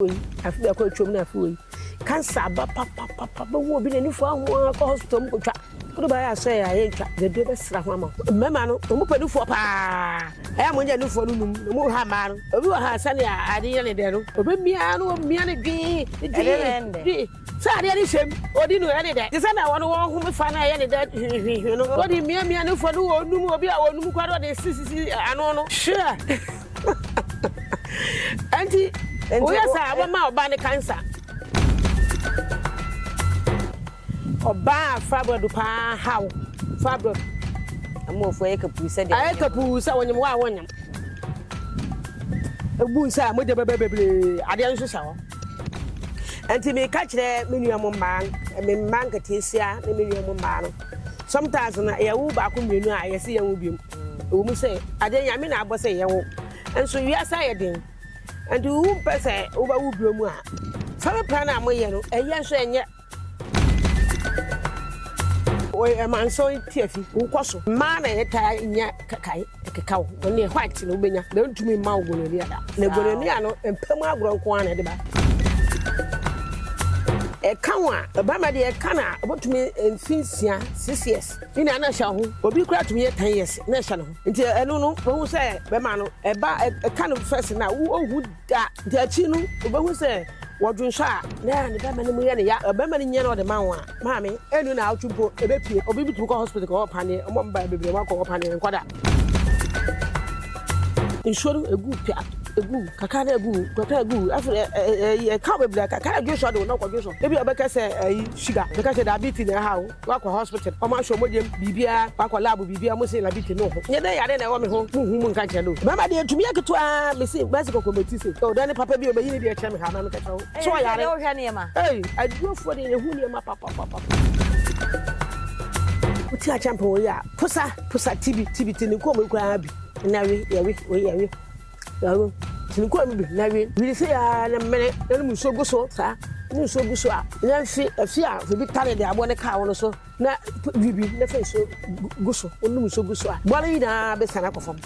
wei afe bɛkɔ atwam na afe wei kansa aba papapapa bɛwu obi na nifo aho ara kɔ hospital mu kɔtwa kudu baa yɛ asɛ yɛ ayɛ ntwa dɛdɛ bɛsra ho ama mmarima no wɔn pɛ nufoɔ paa ɛyɛ mo nyɛ nufoɔ no num na mo ha mmaa no obi wɔ ha sani a ade yɛ ne dɛ no obi mmea no obi mmea no dwee dwee dwee. Sɛ adeɛ no hyɛm, ɔdi no ɛne dɛ. Te sɛ nea wɔn wɔn home fa no ɛyɛ ne dɛ hwehwehwehwe no. Ɔde miamia ne fɔ no wɔ onum, obi a ɔnum koraa na ɔde sisisi ano no. Hwɛ! Enti woyɛ saa a, wobɛma ɔbaa no kansa. Ɔbaa a Fabradu paa ha wo. Fabradu. Amuofoɔ ayɛ kapuu sɛ deɛ wɔnyam. Ayɛ kapuu sɛ wɔnyam wɔ a wɔnyam. Ebu nsa a mogya bɛbɛ bebree. Adeɛ nso hyɛ hɔ. Ɛnti me ka kyerɛ me nua mo mmaa, me mmaa nketeesia ne me nua mo mmaa no. Sometimes no yɛ wo baako mmienu a yɛ se yɛn wo biom. Ɛwɔ mu sɛ adeɛ nyame na abɔ sɛ yɛ wo. Nso wiase ayɛ den. Ɛnti wo mpɛ sɛ wo bɛ wo biom a, family plan a mo yɛ no ɛyɛ nso ɛnyɛ. Ɔmanso tiafi wo kɔ so mmaa na yɛtaa nya kae ɛkeka wo wɔn yɛ white na wobɛnya na ntumi mma wo gonorrhea da na gonorrhea no mpam agorɔ nko ara na ɛde ba ɛka ho a ɛbɛma deɛ ɛka no a ɔbɛtumi mfe nsia six years ne na ɛhyɛ ho obi kora tumi yɛ ten years na ɛhyɛ ne ho nti ɛno no wɔhu sɛ bɛma no ɛba ɛka no fɛs no a wohu Da da akyi no, wubehu sɛ wɔdwonsɔ a, na ne bɛmma no mu yɛ no ya. Ɔbɛmma no nya na ɔde ma wo a, maame, ɛno naawɔtwe mpo ebepue. Obi betumi kɔ hospital kɔwɔ paneɛ, wɔn a wɔn baeɛ bebree wɔakɔwɔ paneɛ, nkɔ da. Nsuo no egu pia, egu kakra na egu, kakra egu, afei ɛ ɛ ɛyi ɛka wo bebree, kakra dwonsɔ de wo na ɔkɔ dwonsɔ. Ebi a ɔbɛka sɛ ɛyi sugar, ɔbɛka sɛ diabetes na ɛha wo. Wakɔ hospital ɔmo ahwɛ ɔmo gyam biribiaa wakɔ lab biribiaa ɔmo se labiti no ho nyɛ dɛ yare na ɛwɔ me ho mo nhu mo nka nkyerɛ no mɛma deɛ ɛtumi yɛ ketewa me se mɛse kɔkɔ mɛti se oh dɛn ne papa bi ɔbɛyi ne deɛ kyerɛ me ha ma me kɛkyerɛ wo so ɔyare ei adurafoɔ deɛ yɛhu nneɛma papapapapa. Wote akyɛmpe wɔ yi a, posa, posa, tibi, tibi, te ne nkɔn mu koraa bi. Ɛna we, yɛwe, wei yɛwe. Ɛno nti mekɔɔ mu bi na awie wiri sei ara na mene na no mu nsuo gu so saa ne nsuo gu so a na mfe afi a obi tare de aboɔ ne kaa wo no so na wiri bi na fa nsuo gu so wonom nsuo gu so a boa no nyinaa bɛsiane akɔ fam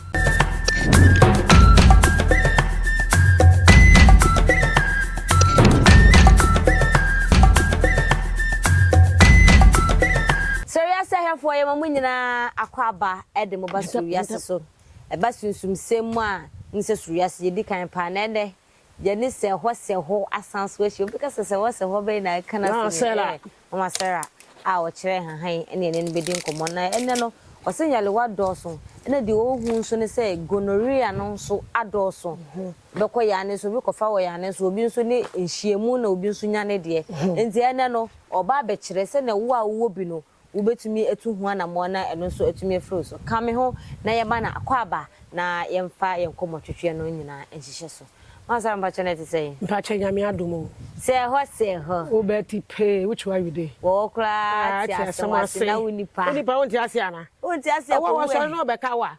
Sɛ wiase ahwɛfoɔ yɛ ma mo nyinaa akɔ aba de mo ba so wiase so ɛba sunsumsɛm mu a, wonim sɛ soro wiase yɛ di kan paa, na ɛnnɛ yɛne sɛhɔ sɛhɔ asan so ahyia. Obi ka sɛ sɛhɔ sɛhɔ bɛn na ɛka no asɛm yi? Ɛyɛ Mama Sarah a ɔkyerɛ nhahan ne yɛne no bɛdi nkɔmmɔ. Na ɛnnɛ no, ɔse nyarewa dɔɔso, ɛna deɛ ɔrehu nso ne sɛ gonorrhea no nso adɔɔso bɛkɔ yɛn anen so, obi kɔfa wɔ yɛn anen so, obi nso ne nhyiamu na obi nso nya ne deɛ. Enti ɛnnɛ no, ɔreba abɛkyerɛ sɛdeɛ wo a wowɔ bi no, wubetumi atu ho anammɔn na ɛno nso atumi afiri wo so. Ka me ho na yɛmma no akwaaba na yɛmfa yɛn nkɔmmɔtwetweɛ no nyinaa nhyehyɛ so. Mansara mpakyɛ na ɛte sɛn? Mpakyɛ Nyame adom o. Sɛɛ hɔ sɛɛ hɔ. Wo bɛ ti pee which way are you dey? Wɔwɔ koraa te asɛm ase na wo nipa. Wo nipa wonte ase anaa? Wonte ase a kɔ wura mu. Ɔwɔ wɔ sɔre na ɔbɛka wo a.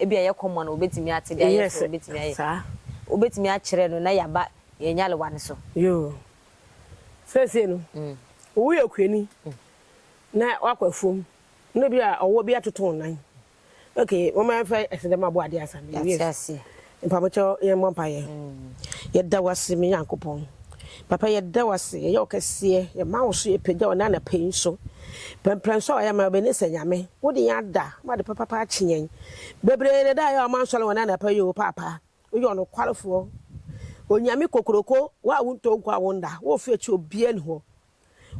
Ebia ɛyɛ kɔm a na obetumi ate de ayɛ sɛ obetumi ayɛ. Wobetumi akyerɛ no na yɛaba yɛn nyarewa no so. Yoo. Seesei no, owu yɛ okuani na wakɔ afuom na ebia ɔwɔ bi atoto wo nan. Okay, momma yɛmfa aseda mu aboade ansa na yɛawie so. Mpabokyɛw, yɛmmɔ mpaeɛ. Yɛda wo ase, me Nyankopɔn. Papa yɛda wo ase yɛyɛ wo kɛseɛ yɛma wo so yɛpagya wo nɛ anapa yi nso prɛmprɛm so a wayɛ ama yɛn bɛne sɛ Nyame wode yɛn ada ma ade papapa akye yɛn bebree na ɛda ayɛ a ɔma nsɔre wɔ nɛ anapa yi o paapa woyɛ ɔnokwarefoɔ Onyame kokroko wo a wontɔ nku a wonda wo ofie akyi obia ni hɔ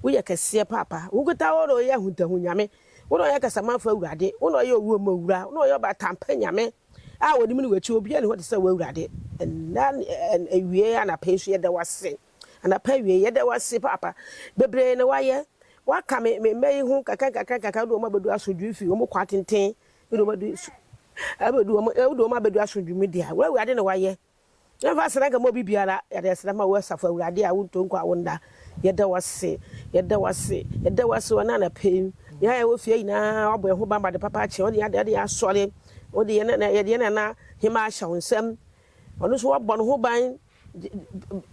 woyɛ kɛseɛ paapa wo nketa wo na ɔyɛ ahuntahu Nyame wo na ɔyɛ kasamanfoɔ awurade wo na ɔyɛ owuo mu owura wo na ɔyɛ ɔbatampa Nyame a wɔnim ne w'akyi, obiara nni hɔ te sɛ wo Awurade, ɛnna ne awiei, anapa yi nso yɛda wo ase, anapa awiei yɛda wo ase paapa, bebree na woayɛ, woaka me me mma yi ho nkakra nkakra nkakra, wode wɔn abɛdu asomdwoe fi wɔn kwan tenten, wode wɔn adu abɛdu wɔn, wode wɔn abɛdu asomdwoe mu deɛ, wo Awurade na woayɛ. Yɛmfa asɛnanka mma obi biara, yɛde aseda ma wo Asafo Awurade a wontɔ nko a wonna. Yɛda wo ase, yɛda wo ase, yɛda wo ase wɔ ɛnnɛ anapa yi. Yɛn a yɛwɔ fie ha nyinaa, woabɔ yɛn ho ban ma ade papa akye. Wode yɛn ade, yɛn asɔre, wode yɛn nana, yɛde yɛn nana hemmaa ahyɛ wo nsam. Ɔno nso wabɔ ne ho ban.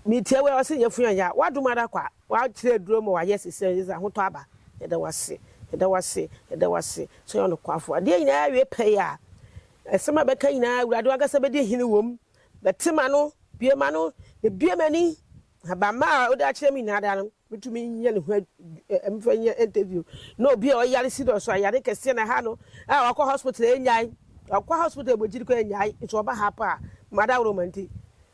Metia wo a, ɔse nyɛ fo yɛn ya. W'adom ara kwa, wakyerɛ aduro ma wayɛ sesɛ, yɛdze ahotɔ aba. Yɛda wo ase, yɛda wo ase, yɛda wo ase sɛ ɔyɛ ɔnokwafo. Adeɛ nyinaa awie pɛyɛ a, Asɛm a ɛbɛka nyinaa, Awurade w'ankasa bɛdi hene wɔ mu. Bɛte m'ano, bue m'ano, na bue m'ani. Ahabamma a wode akyerɛ me nyinaa daa no, metumi nyɛ ne ho mfa nyɛ interview. Na obi a ɔyare serious, ayare kɛseɛ na ɛha no, a wakɔ hospital ɛnyae, wakɔ hospital ɛbɔ gyiri kɔ ɛnyae, nso ɔba ha paa, m'adaworo ma nti,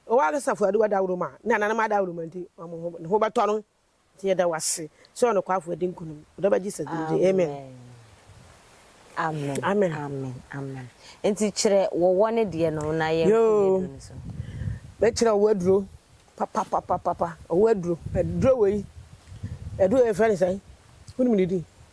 w'ankasa Afuaduwa adaworo ma, ne nananom adaworo ma nti, ne ho bɛtɔ no. Nti yɛda wo ase sɛ ɔnokwafo adi nkunim ɔdɔ bɛ Jesus din nti amen. Amen amen amen amen nti kyerɛ wɔ wɔ ne deɛ no na yɛn nko yɛ duro no so. Mɛ kyerɛ ɔwɔ aduro papapapapa ɔwɔ aduro aduro wɔ yi aduro yɛ fɛ ne sɛn wonim ne din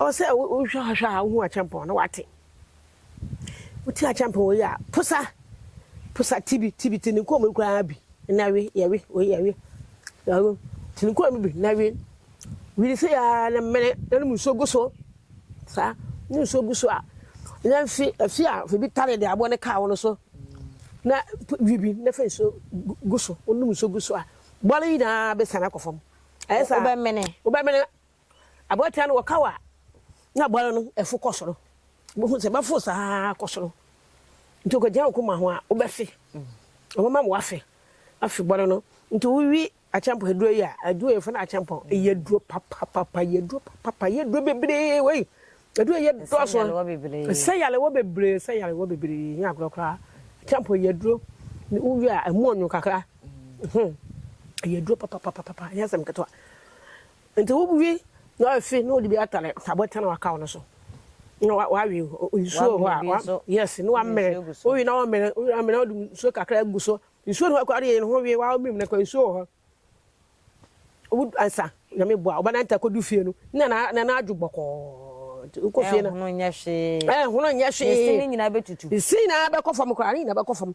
Ɔwɔ sɛ wohwɛ hwɛ a wohu akyɛmpɔn na woate. Wote akyɛmpɔn wei a, posa, posa tibi, tibi, te ne nkɔn mu koraa bi na we, yɛwe, wei yɛwe, yɛwe, te ne nkɔn mu bi na we. Wiri sɛ ya na mene na no mu nsuo gu so. Saa, no nsuo gu so a, na mfi, afi a fi bi tare de aboɔ ne kaa wo no so. Na wi bi na fa nsuo gu so, wonom nsuo gu so a, bɔre nyinaa bɛsiane akɔ fam. Ayɛ saa. Wobɛmene. Wobɛmene. Aboatia no wɔkaw a na aboa no no ɛfo kɔ soro. Wobɛhu sɛ ɛbɛforo saa ara akɔ soro. Nti ɔkɔgyina wo koma ho a, wobɛfe. Wɔbɛma wo afe, afe bɔre no. Nti wowi akyɛmpɔn aduro yi a, aduro yɛfrɛ no akyɛmpɔn. Ɛyɛ aduro papapapa, ɛyɛ aduro papapa, ɛyɛ aduro bebree wei. Aduro yi dɔɔso. Ɛsɛ yalewa bebree, ɛsɛ yalewa bebree, ɛnyɛ agorɔ koraa. Akyɛmpɔn yɛ aduro, wowi a ɛmu ɔnwo kakra. Ɛyɛ aduro papapapapa, ɛnyɛ asɛm ketewa. Enti wobue na wafi na ɔde bi atare abotan a wakaw no so na wawe nsuo wɔ hɔ a wa yes na wamere wowi na wamere wowi amere na ɔde nsuo kakra agu so nsuo no akɔ adeɛ no ho wie wawe mmiri mu na kɔ nsuo wɔ hɔ wobu ansa nyame boa ɔba nante akɔdu fie no na na na na adwo bɔkɔɔ nti wokɔ fie no ɛhono nyɛ hwee ɛhono nyɛ hwee ɛsi ne nyinaa bɛtutu ɛsi nyinaa bɛkɔ fam koraa ne nyinaa bɛkɔ fam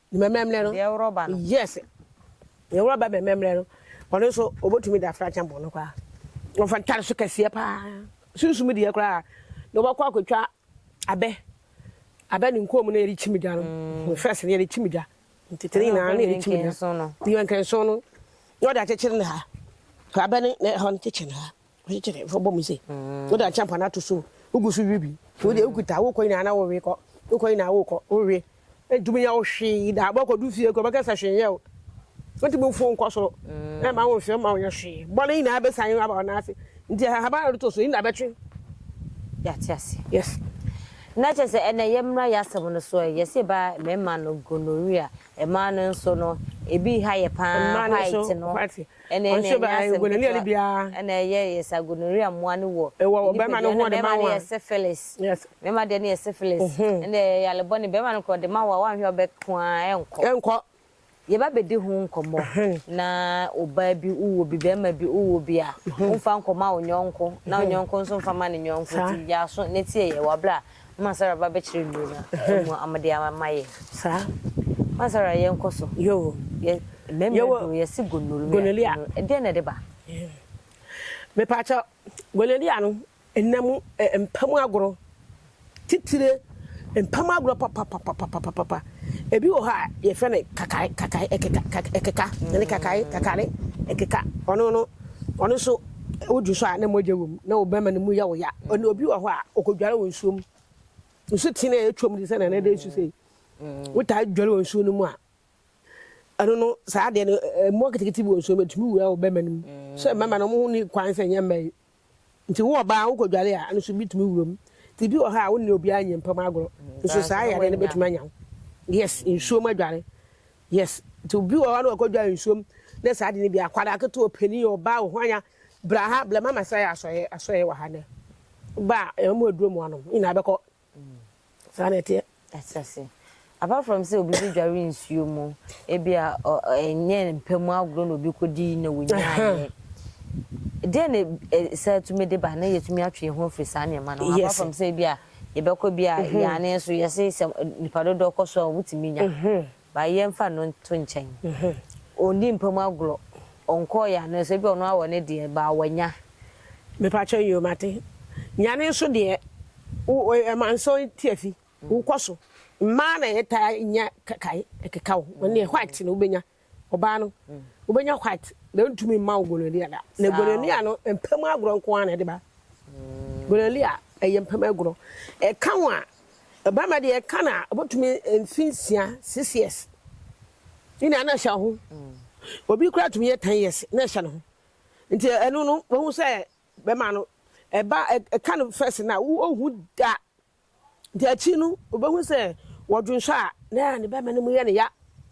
Ne mɛmɛmlɛ no. Deɛ worɔba no. Yes. Deɛ worɔba mɛmɛmlɛ no. Ɔno nso ɔbɛtumi de afra kyɛn bɔn no koraa. Wɔfa ntare so kɛseɛ paa. Sunsum deɛ koraa na wɔbɛkɔ akɔtwa abɛ. Abɛ ne nkɔn mu na yɛde kyim dwa no. Mm. Fɛs no yɛde kyim dwa. Ntetene nyinaa na yɛde kyim dwa. Yɛnkɛnso no. Na wɔde akyekyere ne ha. Abɛ ne ɛhɔ no kyekyere ne ha. Wokyekye no, fa bɔ mu se, wode akyɛmpa no ato so o, wogu so we bi. So wodeɛ wokuta a, wokɔ nyinaa na wowe kɔ, wokɔ nyinaa wokɔ, wowe. Ɛntumi nyɛ wo hwee da, wobɛkɔdu fie koraa wobɛka sɛ hwee nyɛ wo. Wontumi mforo nkɔ soro, ɛmma wo nhwe, ɛmma wonyɛ hwee. Bɔne nyinaa bɛsan aba wo nan ase. Nti ahaban a wode to so yi na bɛtwe. Yɛate aseɛ. Yes. Na kyerɛ sɛ ɛnɛ yɛmmra yɛ asɛm no so ɛ, yɛse ba mmarima no gonorrhea, mmaa no nso no, ebi ha yɛ paa, Mmaa no nso, white no. white. Ɛnna yɛn na yɛnya asɛm ketewa. Ɛnna ɛyɛ yɛ sɛ gonorrhea mmoa no wɔ yɛn nipadua no. Mmarima no yɛ syphilis. Mmarima deɛ no yɛ syphilis. Ɛnna ɛyɛ yale bɔne. Barima no koraa, ɔde ma wo a, woanhwɛ a wobɛko ara, ɛrenkɔ. Ɛrenkɔ. Yɛbɛbɛdi ho nkɔmmɔ na ɔbaa bi wowɔ bi, barima bi wowɔ bi a, womfa nkɔma wo yɔnko na wo yɔnko nso mfa mma ne yɔnko nti, yɛ aso na tie yɛn wɔ berɛ a Mma Sarah ba bɛkyerɛ nnuro no a ɛmu a wɔde ama yɛn. Saa. Mma Sarah yɛnkɔ so. Yoo. Yɛ mmarima duro yɛsi gonorrhea. Gonorrhea. Ɛdeɛ na ɛde ba. Mepaakyɛ gonorrhea no ɛnam mpamu agorɔ titire mpamu agorɔ papapapapapapa Ebi wɔ hɔ a yɛfrɛ no kakae, kakae, ɛkeka, kaka, ɛkeka, ɛne kakae, mm. kakare, ɛkeka. Ɔno no, ɔno nso wodwo so a na mogya wɔ mu na wo bɛrima no mu yɛ wo ya. Mm. Ɔne obi wɔ hɔ a ɔkɔdware wɔ nsuo mu. Nsu tene a ɛtwam de sɛ na ɛnɛdɛ nsu sei. Mm. Wotaa dware wɔ nsuo no mu a ɛno no saa adeɛ no mmoa ketekete bi wɔ nsuo mu ɛtumi wura wo bɛrima no mu. Sɛ mmarima no wɔn ho ni kwan sɛ nyɛ mmaa yi Nti wo ɔbaa wokɔdware a, ɛno nso bi tumi wura mu. Nti bi wɔ hɔ a wo ne obiara nyɛ mpam agorɔ. Nso saa yareɛ no bɛtumi anya wo. Yes, nsuo mu adware. Yes, nti obi wɔ hɔ na wakɔdware nsuo mu ne saa ade no bi a, akwadaa ketewa, ɔpanin, ɔbaa, ɔhwanya, bra ha, bra ma masra yɛ asɔeɛ wɔ ha nnɛ. Ba a, yɛbɛma wo aduro ma woanom. Ne nyinaa bɛkɔ Saa na ɛteɛ. Ɛte ase. Apart from sɛ obi bɛdware nsuo mu, ebia ɛnyɛ mpa mu agorɔ na obi kɔdi na wɔnyaeɛ. Deɛ na saa tumi de ba na yɛtumi atwe yɛn ho afiri saa nneɛma no ho. Apart from sɛ ebia yɛbɛkɔ bi a yɛane nso yɛse sɛ nipa dodoɔ kɔ so a wɔtumi nya. Ba yɛmfa no nto nkyɛn. Ɔnni mpa mu agorɔ. Ɔnkɔɔ yɛn ano sɛ ebia ɔno ara wɔ ne deɛ baa wanya. Me pakyɛ yoo mate. Nyane nso deɛ wo ma nso tiafi wo kɔ so. Mmaa na yɛ taa nya kakae ɛkeka wo. Wo deɛ white na wo bɛnya. Ɔbaa no wo bɛnya white na ntumi mma wo gonorrhea da. Na gonorrhea no mpa mu agorɔ nko ara na ɛde ba. Gonorrhea ɛyɛ mpa mu agorɔ. Ɛka wo a Ɔbarima deɛ ɛka no a, ɔbɛtumi mfe nsia, six years, ne nea na ɛhyɛ ho. Obi koraa tumi yɛ ten years na ɛhyɛ ne ho. Nti ɛno no, wɔhu sɛ bɛma no ɛba ɛka no first na wɔhu da. Nti akyi no, wɔbɛhu sɛ wɔdwonsɔ a na ne bɛma no mu yɛ ne ya.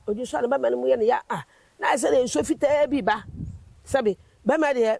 Wɔdwonsɔ a ne bɛma no mu yɛ ne ya a, na ayɛ sɛ nsuo fitaa bi ba. Sɛbe bɛma deɛ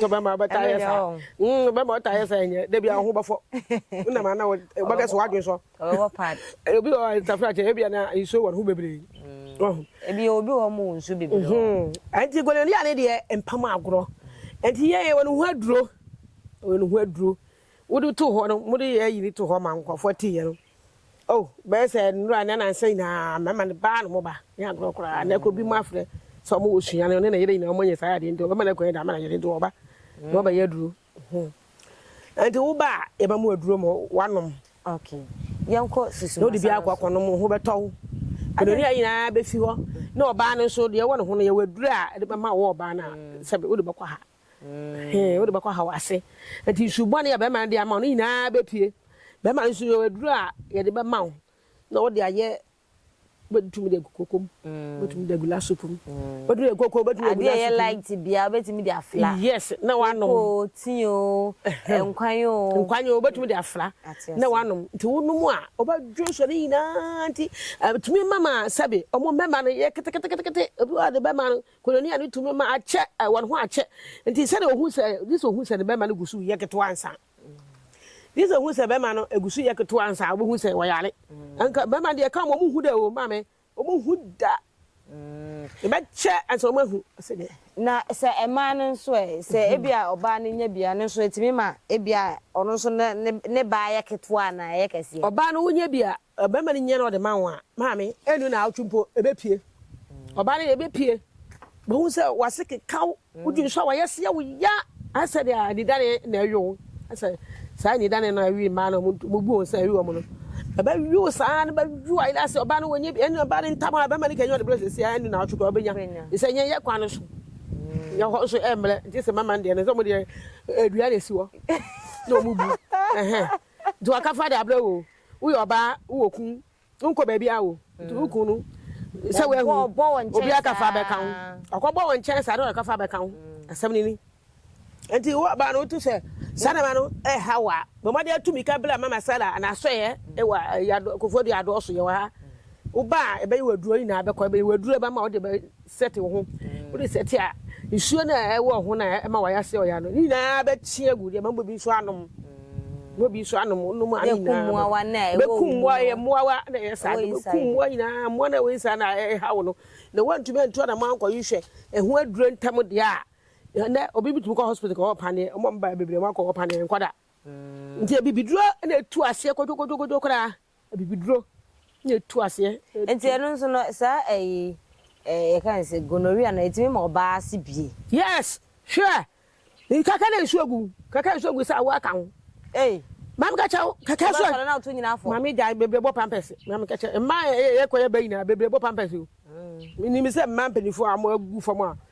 sɛ bɛma wobɛta yɛ saa mm, bɛma wota yɛ saa nyɛ da bia wo ho bɛfɔ wonam ana wobɛkɛ so woadwen sɔ obi wɔ tafra kyɛ ebia na nsuo wɔ ne ho bebree mm. ebi obi wɔ mu nsuo bebree mhm. ɛnti gɔnɛlia ne deɛ mpam agorɔ ɛnti yɛyɛ wɔ ne ho aduro wɔ ne ho aduro wode too hɔ no, mode yɛ ayi no too hɔ ma nkurɔfoɔ atiiɛ no, O bɛyɛ sɛ nnora ne anansa nyinaa mmarima no baa ne mo ba ne agorɔ koraa, na ɛkɔ bi mu afrɛ sɛ ɔmo wɔ sua no, ɔne ne yere nyinaa ɔmo nyɛ saa adeɛ nti ɔbɛma no akwan de ama n'ayere nti ɔba na ɔbɛyɛ aduro. Nti wo ba a, yɛma mo aduro ma wanom. Ok, yɛnkɔ susu na wode bi akɔ akɔnom wo ho bɛtɔ wo. Anoni a nyinaa bɛfi hɔ na ɔbaa no nso deɛ ɛwɔ ne ho no yɛwɔ aduro a ɛde bɛma wɔ ɔbaa no a sɛbe wode bɛkɔ ha. Hee, wode bɛkɔ haw ase. Enti nsu bɔne a bɛrima no de ama wo no nyinaa bɛpue. Bɛrima no nso yɛwɔ aduro a yɛde bɛma wo na wode ayɛ, wobɛtumi de agu koko mu, wobɛtumi de agu la soup mu, wobɛtumi de agu koko, wobɛtumi de agu la soup mu. Adeɛ a ɛyɛ light biara wobɛtumi de afra. Yes, na woanom. Koko o, tea o, nkwan o. Nkwan o, wobɛtumi de afra na woanom. Nti wonom a, wobɛdwo nsuo no nyinaa. Nti ɛtumi ma ma sɛbe wɔn mmarima no yɛ keteketekete. Obi wɔ hɔ a ɔde bɛrima no Koinonia no tumi ma akyɛ, wɔn ho akyɛ. Enti sɛnea ohu sɛ, gye sɛ ohu sɛ ne bɛmma no gu so reyɛ ketewa ansa. Gye sɛ ohu sɛ bɛmma no gu so reyɛ ketewa ansa a obehu sɛ wɔyare. Anka bɛmma deɛ ɛka wɔn, wɔn nhu da o, maame, wɔn nhu da. Ɛbɛkyɛ ansa wɔn ahu. Ɔsɛ deɛ. Na sɛ mmaa no nso ɛ? Sɛ ebia ɔbaa no nya bi a, ɛno nso etumi ma ebia ɔno nso ne ne baa yɛ ketewa anaa ɛyɛ kɛseɛ. Ɔbaa no wonya bi a, Ɔbarima no nya na ɔde ma wo a, maame, ɛnnu naawɔtwe mpo, ɛbɛpue. Ɔbaa no deɛ, ɛbɛpue. Wobɛhu sɛ w'ase keka wo, wodi nso a w'ayɛ seɛ wo ya. Ayɛ sɛ deɛ anidane na ɛwe wo. Ayɛ sɛ saa anidane no a ɛwe mmaa no a wɔbu wɔn sɛ ɛwe wɔn no, ɛbɛwe wo saa na ɛbɛwe wo ayera ase. Ɔbaa no wɔnyɛ bi, ɛnna ɔbaa no ntam a ɔbarima no kanya ɔde brɛ seesei a, ɛnnu naawɔtwe koraa ɔbɛnya. Ɛfiri sɛ ɛnyɛ yɛn kwan no so, yɛn hɔ nso ɛmmrɛ. Gye sɛ mama no deɛ no, sɛ wɔn deɛ, dua na ɛsi hɔ na wɔbu. Nti waka fa de abrɛ wo o, wo yɛ ɔbaa wo wɔ kun, wo nkɔ baabi a o, nti wo kun no sɛ wo ahu obi aka fa abɛ ka ho, ɔkɔ bɔ wo nkyɛn saa na ɔka fa abɛ ka ho, asɛm no ni. Nti wo ɔbaa no wo ti sɛ saa nneɛma no ɛha wo a, bɔ mmɔden atu mmirika bra Mama Sarah anaa Asɔeɛ wɔ Kofoɔ Dua adɔɔso yɛ wɔ ha, wo ba a ɛbɛyɛ wo aduro nyinaa bɛkɔ, ɛbɛyɛ wo aduro ɛbɛma wo de bɛ Sɛte wo ho. Wode sɛte a, nsuo no a ɛwɔ ho no a ɛma wayɛ ase ɔya no, ne nyinaa bɛkye agu. Deɛ ɛma bobi nso anom. Bobi nso anom, wonom a ne nyinaa no. Bɛkum mmoa, ɛyɛ mmoawa na ɛyɛ saa. Bɛkum mmoa nyinaa, mmoa no a ɛwɔ inside no a ɛha wo no. Na woantumi antu anamɔ ankɔ nhwɛ ɛho aduro ntɛm deɛ a, ɛnɛ obi bɛtumi kɔ hospital kɔwɔ paneɛ. Wɔn a wɔbaeɛ bebree wɔakɔwɔ paneɛ, ɛnkɔ da. Nti abibiduro na ɛtu aseɛ kodwokodwokodwo koraa. Abibiduro na ɛtu aseɛ. Nti ɛno nso no saa ɛyi ɛɛ yɛka ne sɛ gonorrhea no ɛtumi ma ɔbaa ase bie. Yes hwɛ nkaka na nsuo gu kaka nsuo gu sɛ awoɔ aka ho. Ei. Maame ka kyerɛ wo kaka nsuo. Ɔbaa sɔre na woto nyina afɔ. Maame gyae bebree bɔ pampers maame ka kyerɛ mmaa yɛ kɔ yɛ ba nyinaa bebree bɔ pampers o. Menim sɛ mmaa mpaninfoɔ a wɔn agu fam a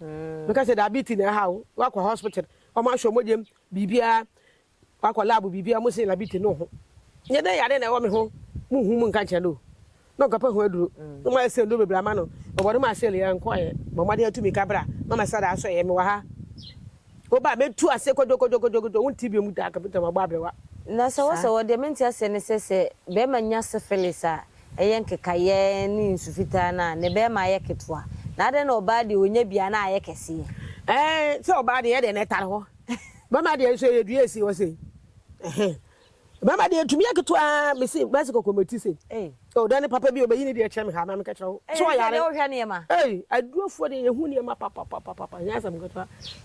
meka sɛ diabetes na ɛha wo wakɔ hospital ɔmo ahwɛ ɔmo gyam biribiara wakɔ lab biribiara ɔmo se diabetes no ho nyɛ dɛ yare na ɛwɔ me ho mo hu mo nka nkyerɛ no na ɔkapa ho aduro na ɔmo ayɛ sɛ nduro bebree ama no ɔbɔ no ma asɛl yɛ nkɔɛ bɔ mmɔden atu mi kabra na ɔmo asada asɔ yɛ me wɔ ha woba mɛtu ase kodwokodwokodwokodwo wo nti bi ɔmo taa kapita ma bɔ abrewa na sɛ wɔ sɛ wɔ deɛ mente aseɛ ne sɛ sɛ bɛrima nya syphilis a ɛyɛ nkekaeɛ ne nsu fitaa no a, ne bɛɛma yɛ ketewa, na adɛn na ɔbaa deɛ ɔnya bi a na ayɛ kɛseɛ? Ɛɛ, sɛ ɔbaa deɛ, ɛdeɛ na ɛtare hɔ, bɛɛma deɛ nso ɛyɛ dua ɛsi hɔ sei, ɛhɛn, bɛɛma deɛ ɛtumi yɛ ketewa ara, mese mɛse kɔkɔ mɛti sei, Ei. oh, dɛn ne papa bio, bɛyi ne deɛ kyerɛ me ha na menkɛkyerɛ wo, Ei, sɛ ɛndeɛ ɔyare, wohwɛ nneɛma. ei, adurafoɔ deɛ yɛhu nneɛma papapapapa, ɛnyɛ asɛm ketewa.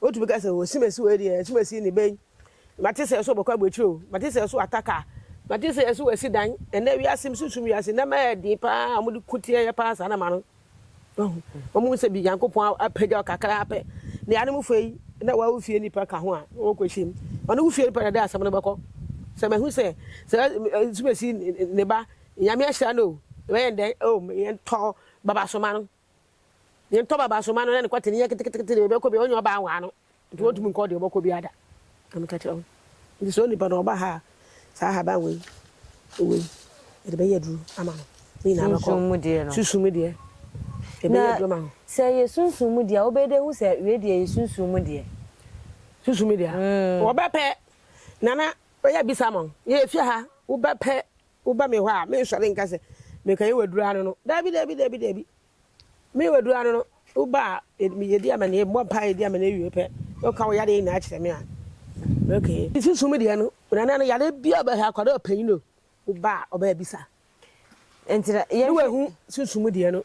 Wotumi ka sɛ, 'O Simesi wei deɛ, Simesi ne bɛn? Mate sɛ yɛso bɛkɔ abɔakyire o, mate sɛ yɛso ata kaa, mate sɛ yɛso asi dan. Ɛnnɛ wiase mu, sunsum wiase, nneɛma yɛ den pa ara a wɔde ko tia yɛn pa ara saa na ma no. Wahu? Wɔnhu sɛ bi Nyankopɔn apagya wo kakra pɛ. Ne anomfoɔ yi, na wɔn wo fie nnipa ka ho a, na wɔkɔhyia mu. Ɔne wo fie nnipa na ɛde asɛm no bɛkɔ. Sɛ mahu sɛ, sɛ Simesi ne ba, Nyame ahyira no o, yɛbɛyɛ no dɛn? O, yɛntɔ baba so ma no. Yɛntɔ baba so ma no na ne kɔte ne yɛ ketekete deɛ ɔbɛkɔ bia ɔnyɛ ɔbaa nwaa no nti wɔntumi nkɔ deɛ ɔbɛkɔ bia da na meka kyerɛ wo nti sɛ onipa no ɔba ha a saa haban wei wei yɛde bɛyɛ aduro ama no ne nyinaa bɛkɔ sunsum mu deɛ no sunsum mu deɛ yɛbɛyɛ aduro ama no sɛ yɛ sunsum mu deɛ wobɛde hu sɛ wei deɛ yɛ sunsum mu deɛ sunsum mu deɛ mm. wɔbɛpɛ nana ɔyɛ bisa mo yɛ fie ha wobɛpɛ Woba me hɔ a, merensɔre nka sɛ, 'Meka yɛ waduru ano no. Dabi, dabi, dabi, dabi. Meyɛ waduru ano no. Woba a, yɛdi amanneɛ, yɛbɔ mpaeɛ, yɛdi amanneɛ wie pɛ, na woka wo yadeɛ nyinaa kyerɛ me a, okay. Me susu mu deɛ no, Nana no yadeɛ biara a ɔbɛhwɛ, akwadaa ɔpanyin o, woba a, ɔbɛbisa. Nti na yɛnhwɛ. Ne wahu susu mu deɛ no,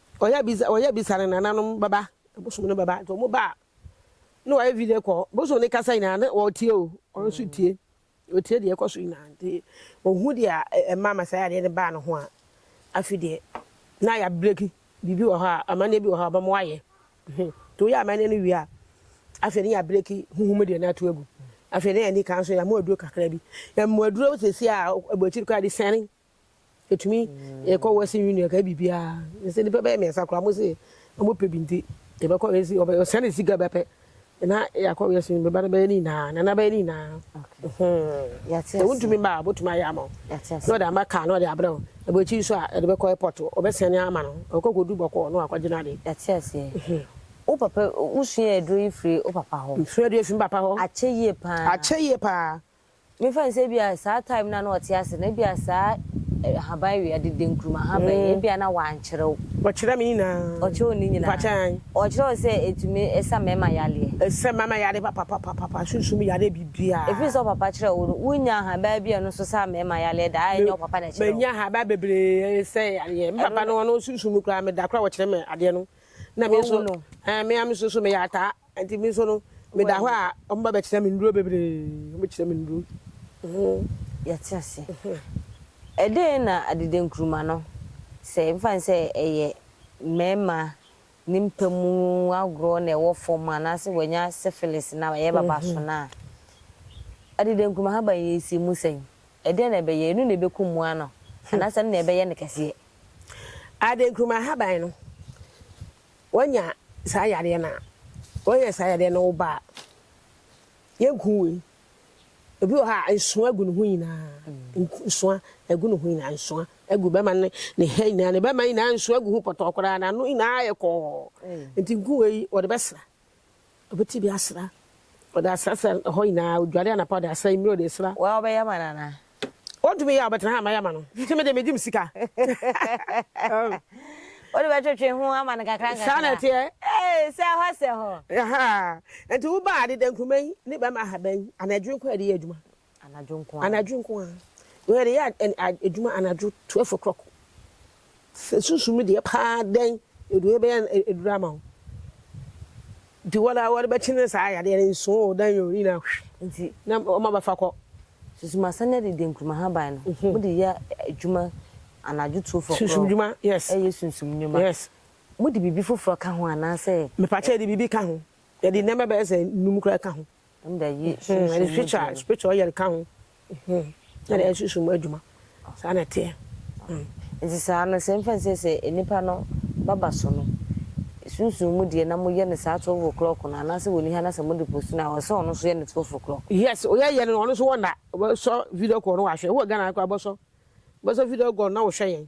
Ɔyɛ bisa ɔyɛ bisa ne nananom bɛba bosom no bɛba nti ɔmo ba a ne wayɛ video kɔ bosom ne kasa nyinaa ne ɔretie o ɔno nso tie ɔtie deɛ ɛkɔ so nyinaa nti ohu deɛ ɛma masaya adeɛ no baa ne ho a afi deɛ na yɛ abreki biribi wɔ hɔ a amanneɛ bi wɔ hɔ a ɔbɛmo ayɛ nti woyɛ amanneɛ no wie a afei ne yɛ abreki huhum deɛ no ato agu afei ne yɛ nika nso yɛ amu aduro kakra bi yɛ mu aduro sisi a ɛbɔ akyiri kɔ a de sɛne Yɛtumi yɛkɔ Western Union ka biribiara ne sɛ nnipa bɛyɛ mmiɛnsa koraa mo se ɔmo pɛ bi nti yɛbɛkɔ yɛsi ɔbɛ ɔsɛn ne sika bɛpɛ na yɛakɔ Western Union bɛba no bɛyɛ ne nyinaa nana bɛyɛ ne nyinaa sɛ wontumi mma a botumi ayɛ ama na ɔde ama kaa na ɔde abrɛ wo ɛbɔ akyi nso a ɛde bɛkɔ airport ɔbɛsɛn ama no ɔkɔ kɔdu bɔkɔɔ na wakɔgye no ade. Yɛte aseɛ. Wo papa wosua aduro yi firi wo papa hɔ? Mesua aduro yi firi me papa hɔ. Akyɛ yie paa. Akyɛ yie paa. Memfa nsɛ ebia saa time no a na ɔte ase no ebia saa ahaban wia dede nkruma ahaban yi ebia na wankyerɛw. Ɔkyerɛ me nyinaa. Ɔkyerɛw ne nyinaa. Mpakyɛ an. Ɔkyerɛw sɛ etumi ɛsa mɛma yareɛ. Ɛsa mɛma yareɛ papapapapa sunsum yareɛ biribiaa. Efiri sɛ ɔpapa kyerɛw wo no wo nya ahaban bi a ɛno nso sa mɛma yareɛ da a ɛnyɛ ɔpapa na ɛkyerɛw. Mɛ nya ahaban bebree ɛsɛ yareɛ. Me papa no ɔno sunsum no koraa meda koraa ɔkyerɛ me adeɛ no na me nso ɛɛ me a me nso so meyɛ ataa. Enti me nso no, meda hɔ a, wɔba bɛkyerɛ me nnuro bebree. Wɔbɛkyerɛ me nnuro. Ɛhe yɛte aseɛ? Ɛdeɛn na adeda nkruma no, sɛ yɛmfa no sɛ ɛyɛ mmarima ne mpa mu agorɔ na ɛwɔ fam anaasɛ wanya syphilis na ɛyɛ baba so no a, adeda nkruma haban yi ɛsi mu sɛn? Ɛdeɛn na ɛbɛyɛ? Ɛno na ɛbɛku mmoa no anaasɛ ɛno na ɛbɛyɛ no kɛseɛ? Adeda nkruma haban no, Wanya saa yareɛ no a, wanya saa yareɛ no wo ba a, yɛnku wei. Obi wɔ hɔ a, nsoa agu ne ho nyinaa, nsoa agu ne ho nyinaa, nsoa agu bɛma ne ne ha nyinaa, ne bɛma nyinaa nsoa agu ho pɔtɔɔ koraa, n'ano nyinaa ayɛ kɔɔ. Nti nku wei wɔde bɛsra. Obetumi asra. Ɔde asra sɛ hɔ nyinaa, odware anapa, ɔde asra anwummere, ɔde asra. Woa wobɛyɛ ama no anaa? Ontumi nyɛ a, ɔbɛtena ha a mɛyɛ ama no. Nti me deɛ megye me sika. Wode bɛtwetwe ho ama no nkakra nkakra. Saa na ɛteɛ. Ee, sɛ hɔ sɛ hɔ. Ahaa. Nti wobaa de dɛnkuruma yi ne bɛmma ha bɛn? Anaa adwiri nko a yɛde yɛ adwuma? anadwo nko ara. Anadwo nko ara. Yɛn yɛde yɛ adwuma anadwo twelve o'clock. Sɛ sunsum mi deɛ paa dɛn edu yɛ bɛyɛ eduru ama wo. Nti wɔn a wɔde bɛkye ne saa yadeɛ no nsu o dɛn o ne nyinaa hwi. Na wɔn abɛfa kɔ. Sunsum asan de adi denkuruma haban no. Wɔn de yɛ adwuma anadwo two four. Sunsum dwuma yes. Ɛyɛ sunsum nnwuma. Yes. Mo de biribi foforɔ ka ho anaasɛ. Mepa kyɛw yɛde biribi ka ho. Yɛde nneɛma bɛyɛ sɛ nnum koraa ka ho. Ndɛ yi sunsum mu edwuma no. Spiritual ɔyɛ nka ho na dɛ sunsum mu edwuma saa na ɛteɛ. Ntsi saa no sɛ mfa nsie sɛ nyimpa no bɛba so no sunsum mu deɛ na moyɛ no saa twelve o'clock no anaasɛ wɔ niha na sɛ mode post no a ɔsɛ ɔno so yɛ no twelve o'clock. Yes oyɛ yɛ no ɔno so wɔ nda ɔbɛ sɔ video call no wɔ ahwɛ wowɔ Ghana ha koraa bɔsɔ bɔsɔ video call no na wo hwɛ yɛn.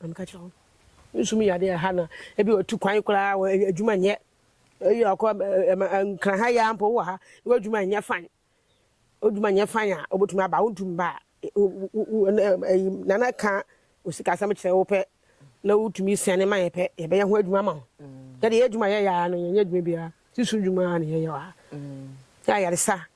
Na meka kyerɛ wɔn, Nsu mu yɛ ade a ɛha na ebi watu kwan koraa, wɔ adwuma nyɛ. Eyi a ɔkɔ nkran ha yi ara mpo wɔ ha, na w'adwuma nyɛ fann. W'adwuma nyɛ fann a, wobɛtumi aba a, wontumi mba a, Nana ka wo sikasɛm kyerɛ wo pɛ na wotumi sɛne ma yɛ pɛ, yɛbɛyɛ ho adwuma ama wo. Yɛde yɛn adwuma a yɛyɛ ara no, yɛnyɛ adwuma biara, tiri so dwuma ara na yɛyɛ wɔ ha. Ayaresa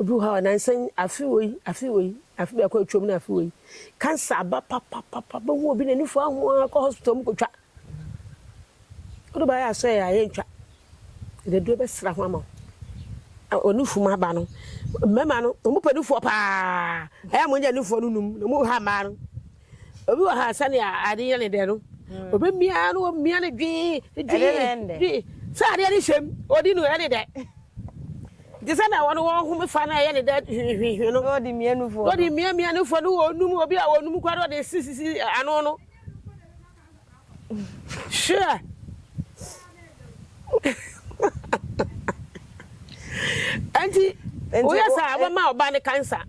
Obi wɔ hɔ a, nansa yi, afe wei, afe wei, afe biako a atwam ne afe wei, cancer aba papapapa, bɛhu obi n'ani fua ho ara, kɔ hospital mu kɔtwa. Wode baeɛ a asɔeɛ a yɛntwa. Ɛde deɛ bɛsra ho ama wo. Ɔne fum aba no, mmarima no, wɔpɛ nufoɔ paa. Ɛyɛ a wɔnya nufoɔ no num na wɔha mmaa no. Obi wɔ ha sɛnea ade yɛ ne dɛ no, hmm. obemia no omia ne dwen dwen sɛ adeɛ ne hyɛm odi no ɛne dɛ nti sɛ na wɔn wɔn ho fa na ɛyɛ ne dɛ hwehwehwe no ɔde mmienufo ɔde mmienmienufo no wɔn num obi a wɔn num kura no ɔde sisisi ano no. Hwɛ! Enti woyɛ saa a, wobɛma ɔbaa no kansa.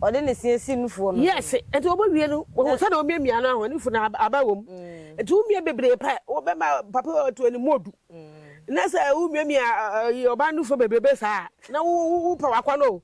Ɔde ne se asi nufoɔ no so. Yes, enti wɔbɛwie no, wɔhu sɛdeɛ wɔmiamia no ahɔ, nufu no aba wɔ mu. Enti mm. womia bebree pɛ, wobɛma papa ɔto anim ɔdu. Mm. Na sɛ womiamia ɔbaa nufoɔ bebrebe saa a, na wopɛ wakɔ no o.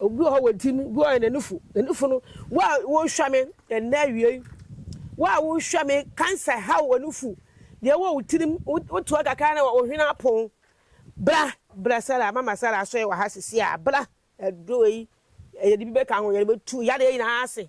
Ogu hɔ wɔ ntim gu hɔ yɛ n'ani fu n'ani fu no wo a wohwɛ me ɛnnɛ awiei wo a wohwɛ me cancer haw w'ani fu deɛ ɛwɔ wo tirim wotoa kakra na wo hwene apon bra bra Sarah mama Sarah asɔre wɔ ha sisi a bra ɛdɔ yi yɛde bi bɛka ho yɛde bɛtu yadeɛ nyinaa ase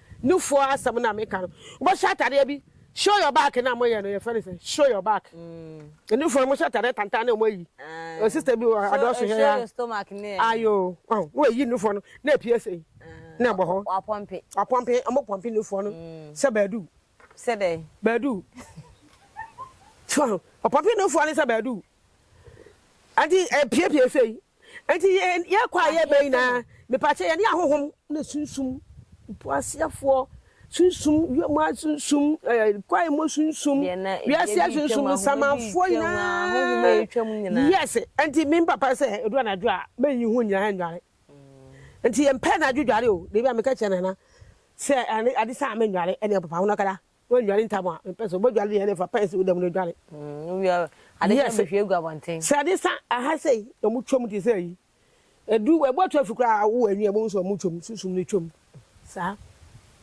no foɔ asɛm na meka no wobɛ hyɛ atadeɛ bi show your back na mo yɛ no yɛ fɛ no sɛ show your back no foɔ no mo hyɛ atadeɛ tantan na mo ayi o sister bi wɔ adɔ so hɛ ya ayo na wayi no foɔ no na apue sɛ na ɛbɔ hɔ wapɔmpe wapɔmpe ɔmo pɔmpe no foɔ no sɛ baadu sɛ dɛ baadu ɔpɔmpe no foɔ no sɛ baadu adi apue pue sɛ Enti yɛn yɛn kɔ a yɛba nyinaa, mepakyɛ yɛne ahohom ne sunsum, mpo aseafoɔ sunsum, wiem a sunsum, ɛɛ kwae mu sunsum, wiase a sunsum, nsamanfoɔ nyinaa. Yes, enti me papa sɛ edu anadwo a mɛnyi ho nyinaa nnware. Enti yɛmpɛ anadwo dware o, debi a meka kyerɛ Nana sɛ ade saa a mennware, ɛnna papa ho na ɔkada. Woadware ntam a, mepɛ sɛ wobɛdware deɛ ɛne fa pɛn sɛ woda mu na dware. Mm, wowia ade kyɛ bɛhwie agu abɔnten. Sɛ ade sa aha sei na ɔmo twam te sɛ yi. Ɛdu ɛbɔ atu afi koraa a wowɔ ani a bohu sɛ ɔmo twam, sunsum no twam. Saa.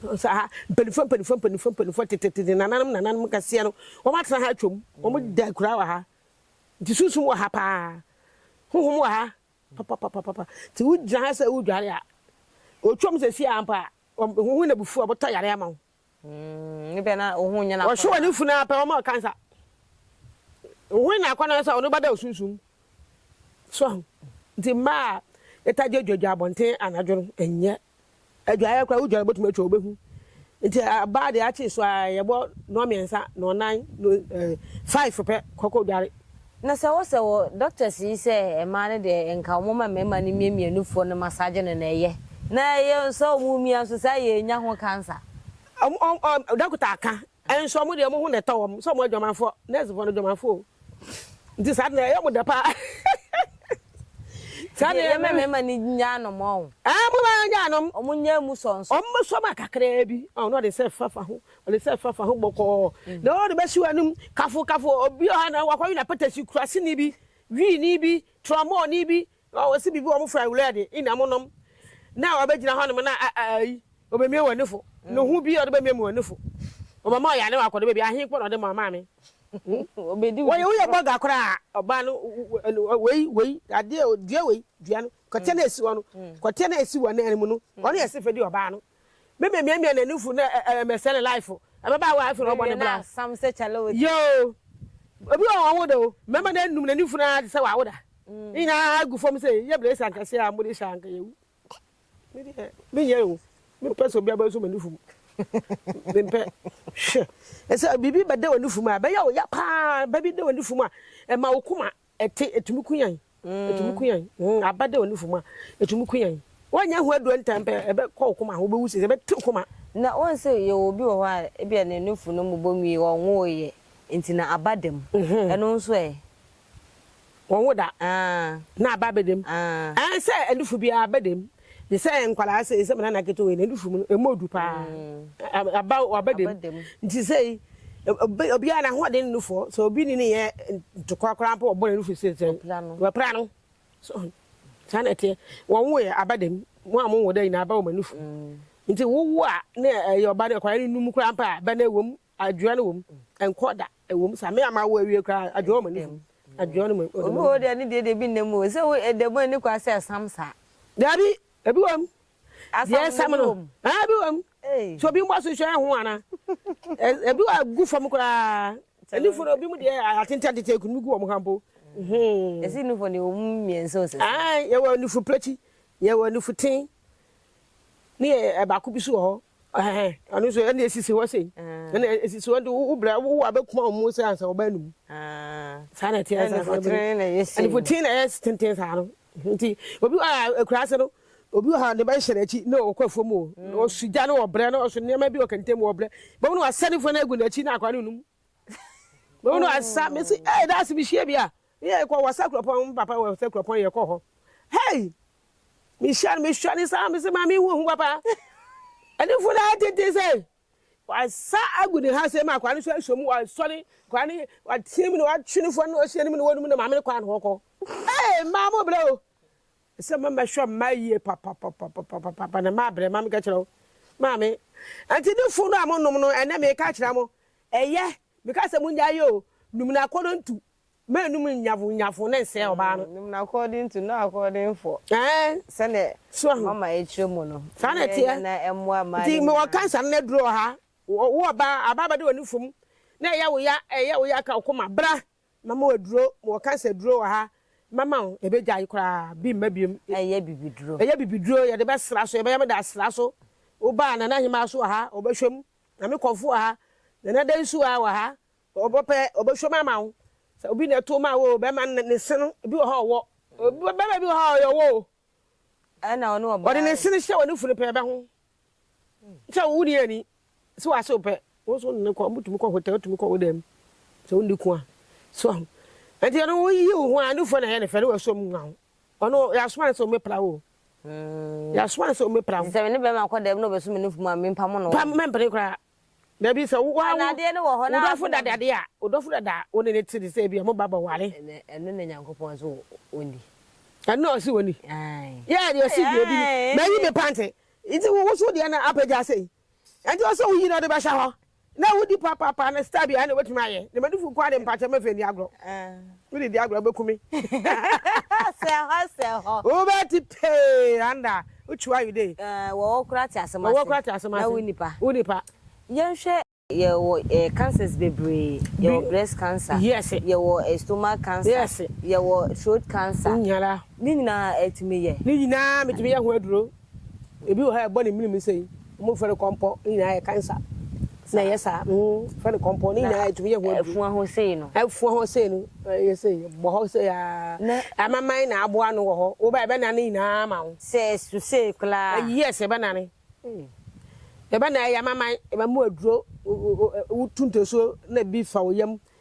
Sɛ aha mpanimfoɔ mpanimfoɔ mpanimfoɔ mpanimfoɔ tetetete nananom nananom kɛseɛ no wɔn atena ha atwam. Wɔn mm. da koraa wɔ ha. Nti sunsum wɔ ha paa. Honhom wɔ ha papapapapa. Nti wogyina ha sɛ wodware a. Ɔtwam sɛ si ampa a, honhom na bufu a wɔbɛtɔ yare ama wo. Wɔhwe wɔn afunu ara pɛ, wɔma ɔka nsa. Wohwɛ no akɔnnɔ no sɛ ɔno bɛda wo sunsum. So ahu? Nti mmaa a yɛtaa gye dwadwa abɔnten anadwo no, ɛnyɛ. Adwaeɛ koraa, wodware bɛtumi atwa wobɛhu. Nti ɔbaa deɛ akye so ara yɛbɔ nnɔmmiɛnsa, nnɔnnan, no ɛɛ five pɛ kɔkɔ dware. Na sɛ wɔ sɛ wɔ doctors yi sɛ mmaa no deɛ nka wɔn mma mmarima no mmie mmienu foɔ no massage no na ɛyɛ na ɛyɛ sɛ wɔn remia nso saa yɛ nya ho cancer. Ɔmo ɔm ɔm dɔkota aka nso ɔmo deɛ ɔmo ho na ɛtɔ wɔn sɛ ɔmo adwamanfoɔ nurse foɔ no adwamanfoɔ o nti saa deɛ ɛyɛ ɔmo dɛ paa saa deɛ yɛmɛ mmarima no nya anom ɔn ɛɛ mo ba nya anom ɔmo nya emu sɔ nso ɔmo sɔ ma kakraa bi ɔn na ɔde nsa ɛfa fa ho Ɔne sɛ fa fa ho bɔkɔɔ na ɔde bɛsi w'anom kafo kafo obi ɔha na wakɔwe na patasi kuraseni bi wiini bi trɔmɔɔni bi ɔsi bibi wɔn fura wura de ina mo nom na ɔbɛgyina hɔ nom na ayi ɔbɛmie wɔ nefo ne ho bi ɔde bɛmie mu wɔ nefo ɔbɛma ɔyɛ ane wakɔde baabi ahe kpɔ na ɔde ma maame wɔyɛ woyɛ bɔga koraa ɔbaa no wei wei adeɛ dua wei dua no kɔteɛ na esi wɔ no kɔteɛ na esi wɔ nan mu no ɔne ɛse fɛ di ɔbaa no Me me mia mia na nufu na eh eh me sell life o. Ɛbɛ ba wa afiri ɔbɔ ne bra. Sam sɛ chale wo di. Yoo. Obi wɔ wɔn wo da o. Mɛma na num na nufu na te sɛ wa wo da. Ne nyinaa agu fam sɛ yɛ brɛ sa nkɛse a mode hyɛ anka yɛ wu. Me deɛ me nyɛ o. Me mpɛ sɛ obi abɔ nso ma nufu mu. Me mpɛ. Hwɛ. Ɛsɛ bibi bɛ da wɔ nufu mu a ɛbɛ yɛ o ya paa. Bɛ bi da wɔ nufu mu a ɛma wo kuma Ɛte, ɛtumi ku yɛn, ɛtumi ku yɛn, mm, aba dɛ onifo mu a, ɛtumi ku yɛn. Woannya hu aduro ntɛm pɛ, ɛbɛkɔ wo koma ho, wobɛwu sese, ɛbɛte wo koma. Na woahu sɛ yɛwɔ obi wɔ hɔ a, ebia ne nufu no mmobɔ nwie, ɔnwoeɛ, nti na aba dam. Mm-hmm. Ɛno nso ɛ? Wɔnwo da, Ah. na aba abɛdam. Ah. Ɛɛ, sɛ nufu biara aba dam, Te sɛ nkwadaa sei, sɛ me nana ketewa wei, n'anufiri mu no, ɛmmɔ du paa. Ɛ- Aba aba dam. Aba dam. Nti sei, ɛ- obi- obiara n'ahoɔden nnu fɔ. Sɛ obi ne ne yɛ ntokwa koraa mpo, ɔbɔ n'anufiri sei sɛ, Wapira no. wapira no. So, saa na ɛteɛ. Wɔwoeɛ, aba dam. Mo a monwo da nyinaa, aba wɔ mo anufiri mu. Nti wowo a, na ɛyɛ ɔba no, akwadaa no nnu mu koraa mpo a, bɛ no ɛwɔ mu. Adwoa no wom nkɔ da ɛwom sa me a mawo awie koraa adwoa wɔ m'ani so adwoa no mu ɔda mu. Obi wɔ hɔ deɛ ne deɛ deɛ ebi nna mu o sɛ wo ɛda mu ani kwa sɛ ɛsam saa. Daabi ebi wɔ mu deɛ ɛsam no ɛɛ ebi wɔ mu sɛ obi mmɔ so hwɛ ɛho ana ebi wɔ gu fam koraa anifo no ebi mu deɛ atenten atenten ekunu mu gu wɔn ha mpo. Esi nifo deɛ wɔn mmiɛnsa osisi. Ayi yɛ wɔ nifo plɛti yɛ wɔ nifo ten ne yɛ ɛbaako bi so wɔ hɔ Ɛhɛn, ɔno nso ɛna esisi hɔ sei. Ɛna esisi hɔ nti wo brɛ wo abɛkuma wɔn mu sɛ ansa wɔbɛn ne mu. Saa na ɛteɛ saa. Anifotene na ɛyɛ sei. Anifotene na ɛyɛ tenten saa no. Nti obi wɔ ha akura ase no, obi wɔ ha ne ba hyɛ n'akyi na ɔkɔ afuo mu o. Ɔso gya na ɔbrɛ na ɔso nneɛma bi wɔ kɛntɛn mu ɔbrɛ. Bɛmu na wasa ne funu agu n'akyi na akwadaa no num. Bɛmu na wasa mesi ɛɛ daase mi hyia bi a Ne yɛ kɔ wɔ sɛ kuropɔn me papa wɔ sɛ kuropɔn yɛ kɔ hɔ hey me hyɛ no me hyɛ ne saa me se maa me hu hu papa ɛne fo na tete sɛ wasa agu ne ha sɛ ma akwa ne so ahyɛ mu wasɔre kwa ne watie mu na watwe ne fo na ɔhyɛ ne mu na wɔn mu na maame ne kwan hɔ kɔ hey maa mo brɛ o sɛ mo mɛhwɛ mma yie papa papa papa papa na maa brɛ maame kɛkyerɛ o maame ɛnti ne fo no a mo nom no ɛnɛ me ka kyerɛ mo ɛyɛ me ka sɛ mo nya yɛ o num na akɔnɔ ntu M'anum nyafun nyafun ne nsɛɛ ɔbaa no. Nim no according to no according for. Ɛɛ. Sɛnɛ. So ahu. Mama ɛkyerɛ mu no. Saa na ɛteɛ. Ɛnyɛ na ɛmoa maa ne nyinaa. Nti mewɔ cancer no aduro wɔ ha. Wo wo ɔbaa abaa bɛde w'ani fom na ɛyɛ wo ya ɛyɛ wo ya ka wo koma bra mama wo aduro mewɔ cancer aduro wɔ ha mama wo ɛbɛgyae koraa bi mma biom. Ɛyɛ bibiduro. Ɛyɛ bibiduro yɛde bɛsra so yɛbɛyɛ me de asra so wo baa Nana Ahemaa so wɔ ha ɔbɛhwɛ mu na me kɔnfo wɔ ha Nana Dansu a wɔ ha Ɔbɔ pɛ, ɔbɛhwɛ mu ama wo. Sɛ obi na ɛtow maa wo o, bɛrima no ne se no, ebi wɔ hɔ a ɔwɔ. Bɛrima bi wɔ hɔ a, ɔyɛ ɔwɔ o. Ɛna ɔne ɔbaa. Ɔde ne se no hyɛ wɔ ne funu pɛ bɛ ho. Sɛ wo wunni ani, sɛ w'ase wo pɛ, wo nso wo ne no kɔ, motumi kɔ hotel, wotumi kɔ wo dan mu, sɛ wonni ko a. So ahu? Enti ɔno woyi wo ho a, nufoɔ na ɛyɛ ne fɛ, ne w'asuo mu nwa ho. Ɔno, yɛasoma no sɛ ommepra wo o. Yɛasoma no sɛ ommepra wo. Nti sɛ me ne bɛrima kɔ dan mu na ɔbɛso me nufu mu a, mempamo no wɔ he? Mɛmpene koraa. Dabi, sɛ wo ara wo dɔfo da dade a, wo dɔfo dada a wo ne no te te sɛ ebia mo ba bɛware. Ɛno na Nyankopɔn ɔse ɔnni. Ɛno na ɔse ɔnni. Yɛ deɛ ɔse yɛ bi no. Mayi me pante. Nti wo wo so deɛ na apagya ase yi. Ɛnti ɔse wo yi na ɔde bɛhyɛ hɔ. Na wodi papapa na style biara na wobɛtumi ayɛ. Demanufoɔ nko ara deɛ mpakyɛ mɛmfa nni agorɔ. Wode di agorɔ wobɛku me. Sɛ hɔ sɛ hɔ. Wobɛte pee anda wotu ayo de. Wɔwɔ koraa te asɛm ase. Wɔwɔ koraa te asɛm ase. Na wo nipa. Wo nipa. Yɛnhwɛ. Yɛwɔ cancers bebree. Yɛwɔ breast cancer. Yes. Yɛwɔ stomach cancer. Yes. Yɛwɔ throat cancer. Nyala. Ne nyinaa ɛtumi yɛ. Ne nyinaa metumi yɛ ho aduro. Ebi wɔ hɔ a ɛbɔ ne menem sei, wɔfrɛ no kɔmpɔ, ne nyinaa yɛ kansa na ɛyɛ saa, wɔfrɛ no kɔmpɔ, ne nyinaa ɛtumi yɛ ho aduru. Ɛfua hɔ sei no. Ɛfua hɔ sei no, ɛyɛ sei, ɛbɔ hɔ sei aa, amaman na aboa ano wɔ hɔ, woba a ɛbɛnane ne nyinaa ama wo. Sɛ ɛsu sei koraa a. Yes, ɛbɛnane, ɛbɛnane, ɛyɛ amaman, ɛbɛma wo aduro, wotu ntasuo na bi fa wo yam,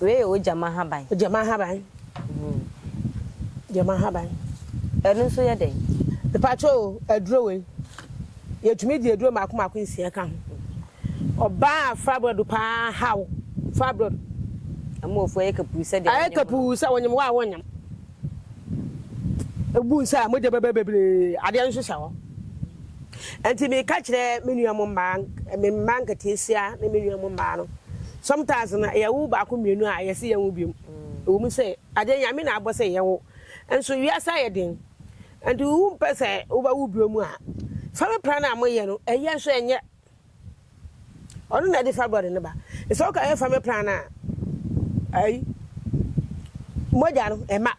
Wei yɛ ogyama ahaban. Ogyama ahaban. Ogyama ahaban. Ɛno nso yɛ dɛn? Mepakyɛ o, aduro wei, yɛtumi di aduro mmaako mmaako nsia ka ho. Ɔbaa a fibroid paa haw, fibroid. Ɛma ɔfo ayɛ kapuu sɛdeɛ wonyem no. Ayɛ kapuu sɛ wonyem wo a wonyem. Egu nsa a, mogya bɛba bebree, adeɛ nso hyɛ hɔ. Nti meka kyerɛ me nua mo mmaa, me mma nketeesia ne me nua mo mmaa no, sometimes no yɛwo baako mmienu a yɛse yɛnwo biom. Ɛwɔ mu sɛ adeɛ Nyame na abɔ sɛ yɛwo, nso wiase ayɛ den, nti wompɛ sɛ wobɛwo biom a, family planning a moyɛ no, ɛyɛ nso ɛnyɛ. Ɔno na ɛde fibroid no ba. Sɛ woka yɛ family plan no a, ayi, mogya no ɛma.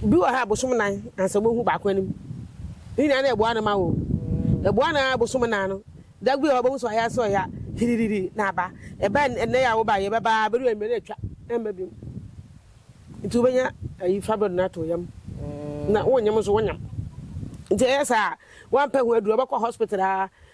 Bi wɔ ha a bosom nan ansa wobehu baako anim. Ne nyinaa na ɛboa no ma o. Ɛboa no ara bosom nan no. Da bi wɔ hɔ a wobehu sɛ ɔya sɛ ɔya hiririri na aba. Ɛba ɛnnɛ yi a woba yi, ɛbɛba ara ebedu anwummere na atwa, ɛmma bio. Nti wobenya ayi fibroid no ato wo yam. Na wonyem nso wonyem. Nti ɛyɛ saa a, woampɛ ho aduru a, wobɛkɔ hospital ara.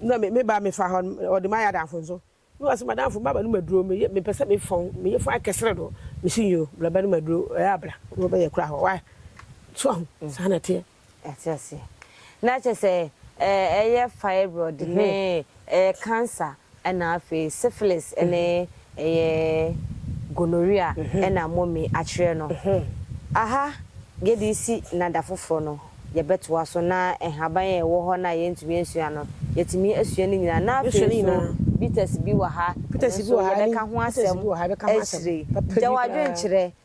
Na me me ba me fa hɔ no ɔde ma yɛ adanfo nso na wase madanfo maba no maduro me yɛ me pɛsɛ me fɔn me yɛ fɔn akɛsere do me si nyo bla ba no maduro ɛyɛ abla na ɔbɛyɛ kura hɔ wa so ho mm. saa na teɛ. Ɛte aseɛ na kyɛ sɛ ɛyɛ fibroid ne ɛyɛ cancer Ɛna afei syphilis ne ɛyɛ gonorrhea ɛna Momi akyerɛ no. Aha yɛde resi na da foforɔ no yɛbɛtoa so na nhaban a ɛwɔ hɔ no a yɛntumi ansua no yɛatumi asua ne nyinaa na afei nso bitters bi wɔ ha nso yɛbɛka ho asɛm akyire. Gya w'adwene kyerɛ